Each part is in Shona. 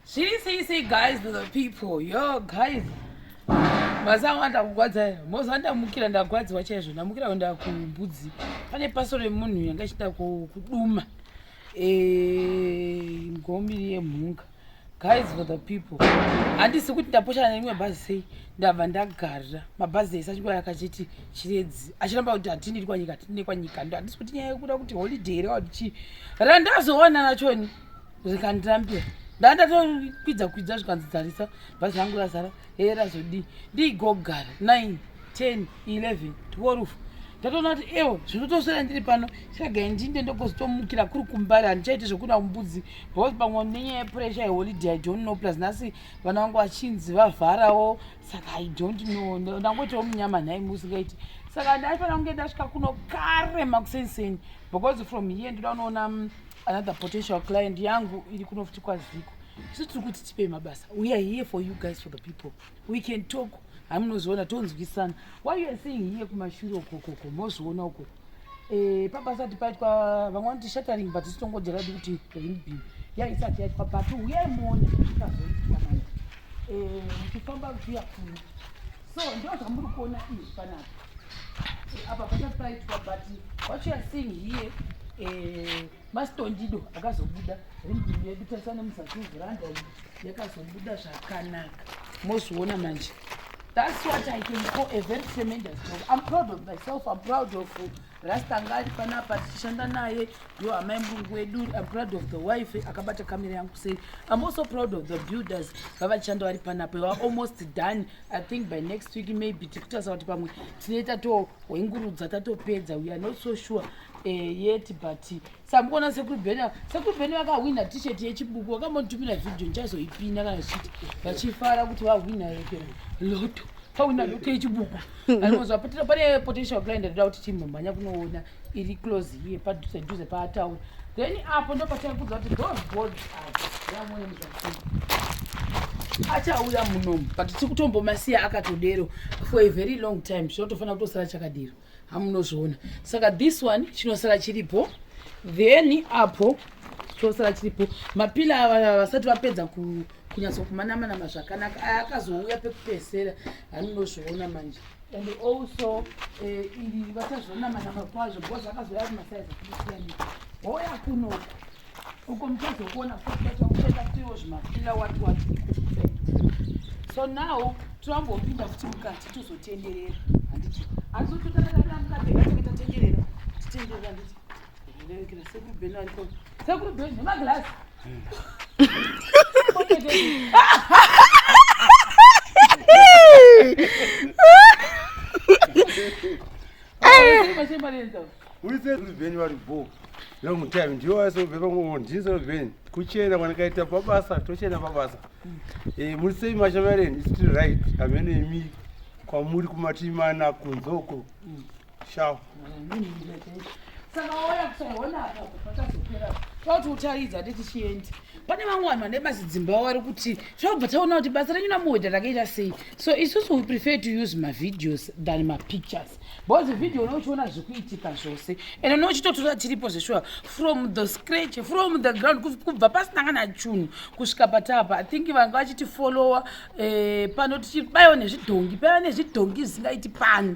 She say say guys to the people. Yo guys. Mazawa ndakugwadza. Moza ndamukira ndagwadziwa chaizvo. Ndamukira kuenda kumbudzi. Pane paso remunhu yanga ichida kuduma. Eh ngombiri yemhunga. Guys for the people. Handisi kuti ndaposhana neimwe bhazi sei. Ndabva ndagara. Mabhazi ese achikuwa akachiti chiredzi. Achiramba kuti hatini kwa nyika, hatini kwa nyika. Handisi kuti nyaya yekuda kuti holiday here wati chi. Randazoona nachoni. zvikanditambira ndandatokwidza kwidza zvikanzi dzarisa bhazi rangu razara hee razodii ndiigogara 9 10 11 12 ndatoona kuti ewo zvinotosvera ndiri pano chiragai ndinde ndokozotomukira kuri kumbari handichaite zvekuda mbudzi because pamwe nenyaya yepuresha yeholiday i don't know plus nhasi vana vangu vachinzi vavharawo saka i don't know ndangoitawo munyama nhai musingaiti saka ndaifanira kunge ndasvika kuno kare makuseni seni because from here ndoda unoona mm, another potential client yangu iri kuno futi kwaziko isu tiri kuti tipei mabasa we are here for you guys for the people we can talk hamunozoona tonzwisana why you are seeing here kumashure ukokoko mozoona uko eh, pabasati paitwa vamwe vanoti shattering but isitongodera di kuti ringbin ya isati yaitwa but uye mone ikazoitwa manje eh, muchifamba kuya kuno so ndo zvamuri kuona izvi panapa apa pasati paitwa but what you are seeing here eh, masitondido akazobuda rindim yedu tarisa nemuzasi veranda yakazobuda zvakanaka mozviona manje that's what i can call a very tremendous job i'm proud of myself i'm proud of rastanga ari panapa tichishanda naye yo amai murungu wedu i'm proud of the wife akabata kamera yangu sei i'm also proud of the builders vavachishanda vari panapa va almost done i think by next week maybe tikutarisa kuti pamwe tine tatohwengurudza tatopedza we are not so sure eh, yet but samukuona sekuru beni sekuru beni vakahwina t-shirt yechibuku vakambotumira video ndichazoipinda kana zvichiti vachifara kuti vahwina rekera loto pahwina loto yechibuku anozvapotera pane potential client ndoda kuti timhambanya kunoona iri close here padhuze dhuze paataura then apo ndopataikuudza kuti those boards yamwene muzvakii achauya munomu but tiri kutombomasiya akatodero for a very long time chinotofanira kutosara chakadero hamunozviona saka this one chinosara chiripo then apo chinosara chiripo mapila ava vasati vapedza kunyatsokumanamana mazvakanaka aya akazouya pekupesera hamunozviona manje and also eh, iri vachazvonamanama kwazvo because akazoya ari masaizi akusiyana hoya kunoku uko muchazokuona kuakuenda kutiwo zvimafila wati wati so now tiambopinda futi mukati tozotenderera handiti asi totakataira mukati tatenderera titenderera handiti uliseruvenyu vari bho long time ndiwo asobheva ngo ndisovenyu kuchena kwanakaita pabasa tochena pabasa eh, muri sei mashamareni still right amene imi kwamuri kumativi mana kunzoko Shao. Saka wauya kusaiona apa pakazopera. Tauti utaridza ati tichienda. Pane vamwe vanhu vane basi dzimba wavo vari kuti tinobva taona kuti basa renyu namuhwedha rakaita sei. So isusu we prefer to use mavideos than mapictures. Because video unenge uchiona zviri kuitika zvose. And unenge uchitotora tiripo zveshuwa from the scratch, from the ground kubva pasina kana chunhu kusvika patapa. I think vanga vachitifollowa eh, pano tichibaiwa nezvidhongi, paiva nezvidhongi zvisingaiti pano.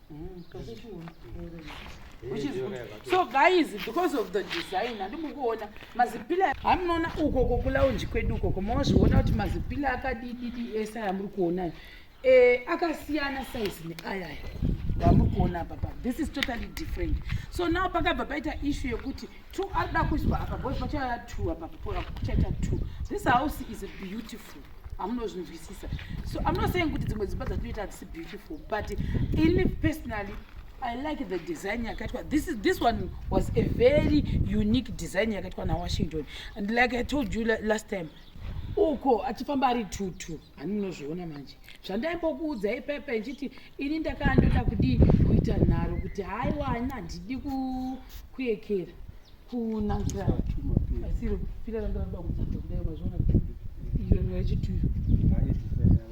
Which is good. So guys, because of the design, andimukuona mazipila hamunoona uko kokulaunji kwedu ukoko mozviona kuti mazipila akadididi ese aya muri kuona eh, akasiyana size neayaya vamuri kuona apa pa this is totally different so now pakabva paita issue yekuti two arida kuiswa apa bcause pachaya two apa pachaita two this house is beautiful hamunozvinzwisisa so i'm not saying kuti dzimwe dzimba dzatinoita hadzisi beautiful but ini personally i like the design yakaitwa this, is, this one was a very unique design yakaitwa nawashington and like i told you last time uko achifamba ari tutu haninozviona manje zvandaimbokuudza ipepe nchiti ini ndakaa ndoda kudii kuita nharo kuti haiwa ani handidi kuekera kunanga asiro pira ranga ramba kudzidza kudai mazviona iyo nyaya yechituyo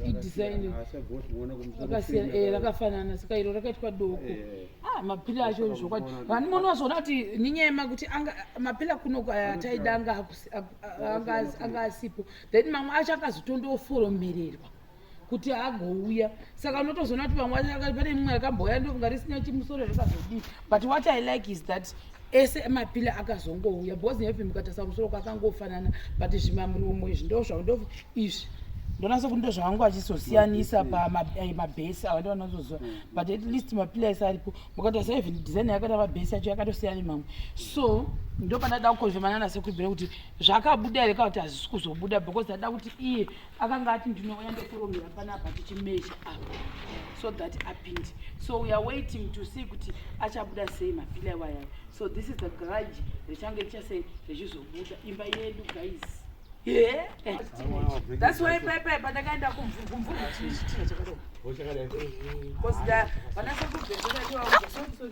idhisainakasiyana eh, rakafanana saka iro rakaitwa doko eh, eh. ah, mapila acho zvokwadi vani mono vazoona kuti ninyema kuti mapila kuno taida anga asipo then mamwe acho akazotondoforomererwa kuti agouya saka unotozoona kuti vamwe pane mumwe akambouya ndokunga risina chimusoro zvakazodii but what i like is that ese mapila akazongouya bhozi nepi mukatasa musoro kwakangofanana but zvimamuromo izvi ndo zvaundof izvi ndonasa kuti ndo zvavangu vachizosiyanisa pamabhesi eh, ava ndo vanozoziva mm. but at least mapila ese aripo mukatasa even design yakata mabhesi yacho yakatosiyana mamwe so ndo pandada kukonzvemanana sekubhira kuti zvakabuda here kana kuti hazvisi kuzobuda because ndada kuti iye akanga ati ndinouya ndokuromera panapa tichimeasure apa so that apinde so we are waiting to see kuti achabuda sei mapila iwayayo so this is the grudge richange richasei richizobuda imba yedu guys Yeah. That's why Pepe patakaenda kumvumvumvu chakadai. Because the vanasokubvesera ndiwa sorry sorry.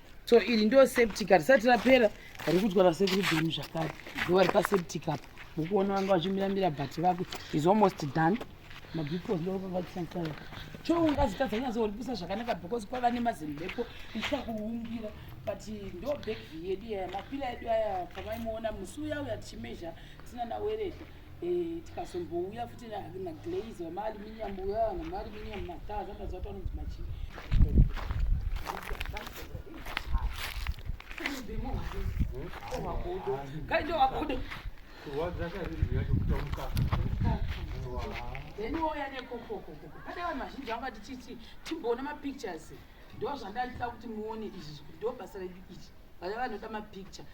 so iri ndo septic harisati rapera rikudwa nasekuru bhemu zvakare ndovari paseptic apa mukuona vanga vachimira mira but vako is almost done mabipos ndovavakisanisaya cho ungazitadza kunyazo uripisa zvakanaka because kwava nemazimbepo ichita kuungira but ndo backview yedu yaya mapila edu aya pamaimuona musi uya uya tichimezha tisina nawereta Eh, tikazombouya futi naglaze wamaaluminium uya vanhu maaluminium mataa zvandaziva kuti vanonzi machii then wouya nekokokokoko pane vanhu vazhinji vanga tichiti timboona mapictures ndo zvandandida kuti muone izvi ndo basa redu ichi vaya vanoda mapicture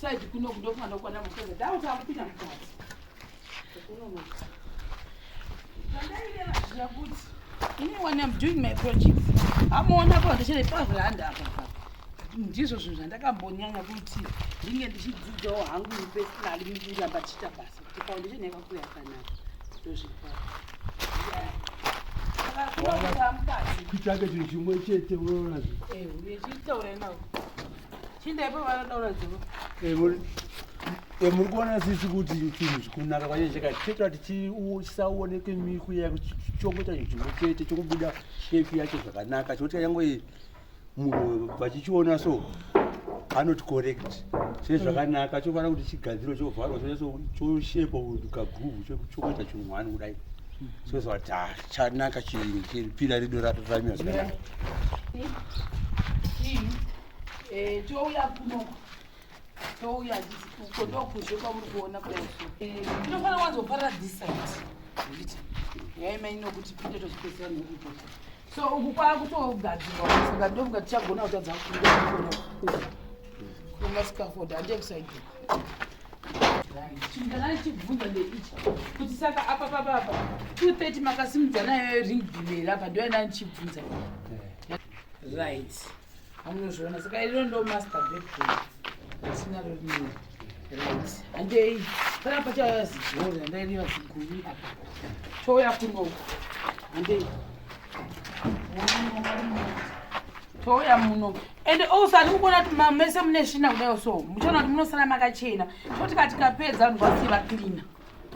Side kuno kudo kwana kwana mukadzi. Dawo takupinda mukati. Kuno mukati. Ini when I'm doing my project, amuona apa ndichiri pazviranda apa ndizvo zvinhu zvandakambonyanya kuti ndinge ndichidzidzawo hangu personally ndichiramba tichiita basa kuti foundation yakakuyaka kutsvaka chinhu chimwe chete unoona muri kuona sisi kuti chinhu chikunaka kwanyaya chakati chetoa tichisaoneke mikuya chongoita chinhu chimwe chete chokubuda shepi yacho zvakanaka chokuti yangoii vachichiona so anoti correct chine zvakanaka chofanira kuti chigadziro chovharwa chonyaso choshekwa kaguvu chokuita chinhu hwani kudai soza kuti ha ah, chanaka chipira rido ratoramiwa zvakanaka eh, touya uko ndokuzve kwamuri kuona kudaiso tinofanira wanzoparira this side zviti nyaya imai nokuti pinde tozvipedzera nekuto so uku kwakutogadzirwa saka ndofunga tichagona kutadza kuona kuona sikafoda handie kusaidi chindanai chibvunza ndeichi kuti saka apa papapa two thirty makasimudza nayo ring bimeri apa ndoyandanichibvunza right Anozviona saka iro ndo master bedroom. Sina ro rinini. Right. Andei. Kana pacha yazigori andai riva ziguri apa. Choya kuno. Andei. Choya muno. And also andikuona kuti mese mune svina kudai so. Muchaona kuti munosara makachena. Toti katikapedza ndwasiva cleaner.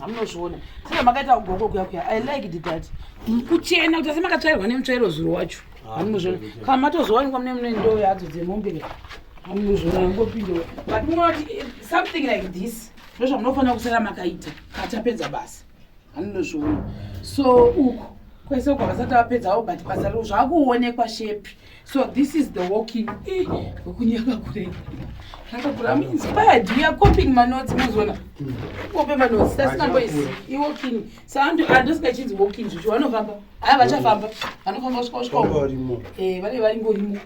hamunozviona saka makaita kugoko kuya kuya i like it that kuchena kuti asi makatsvairwa nemutsvairo zuro wacho ah, hamunozviona kana matozowanikwa mune mune ndoo yadzo dzemombe ka hamunozviona ngopindewa but munoti eh, something like this ndo zvamunofanira kusara makaita katapedza basa hamunozviona so uku kwese uko vasati vapedzawo but basa riro zvakuonekwa shepi So this is the walking eh, kunyaka kure. I'm inspired. We are copying my notes muzona. Copy my notes. That's number is i walking. So I'm to address the kids walking. You want to famba? Ah, bacha famba. Ano famba usko usko. Eh, bale bale ngo himo.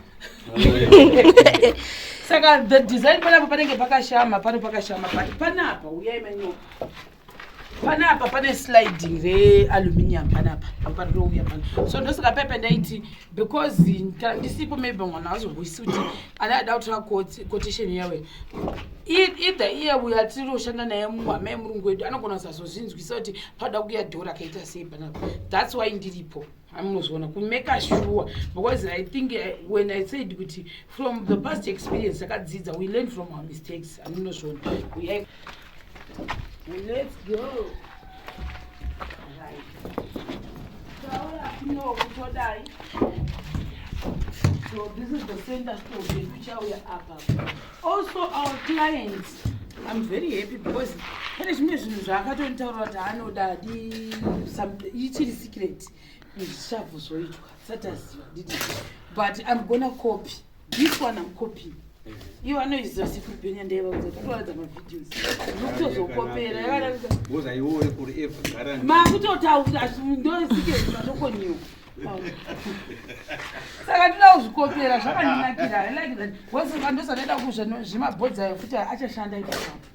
Saka the design pala papanenge pakashama, pano pakashama. Panapa uyai manyo. panapa pane sliding realuminium panapa aparouya pana so ndosaka pepe ndaiti because kana ndisipo maybe mwana azomboisi kuti anaada kutora quotation yawe either iye uya tiri kushanda naye muhama yemurungu wedu anogona kusazozvinzwisa kuti paoda kuya dhora akaita sei panapa thats why ndiripo amunozoona kumeka sure because i think eh, when i said kuti from the past experience akadzidza we learn from our mistakes amunozoona Let's go. Right. So this is the center store which are up. Also our clients, I'm very happy because pane zvimwe zvinhu zvaakatonitaura kuti anoda adi ichiri secret zvichava zvoitwa sati aziva but i'm gonna copy this one I'm copying iyo vanoiziva sekuru bhenya ndaivaudza kutovaradza mavideos nokutozokopera yavaakutotaura ndosikatokonyiwa saka ndida kuzvikopera zvakandinakira ndosaka ndosandaida kuzvimabhodzayo futi achashanda ipaapa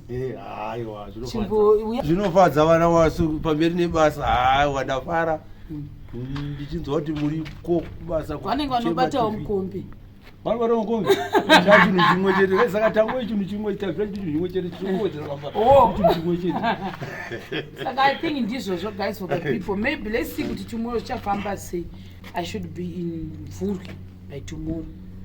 Eh, zvinofadza vana wasu pamberi nebasa haiwa ndafara mm. ndichinzwa kuti muri ko kubasa vanenge vanobatawo mukombi vari vari mukombi cha chinhu chimwe chete eh, saka tango chinhu chimwe tazvira chiti chimwe chete chinokuwedzera pambachinhu oh. chimwe chete saka i think ndizvozvo guys for the people maybe let's see kuti chimwero chafamba sei i should be in vhurwi by tomorrow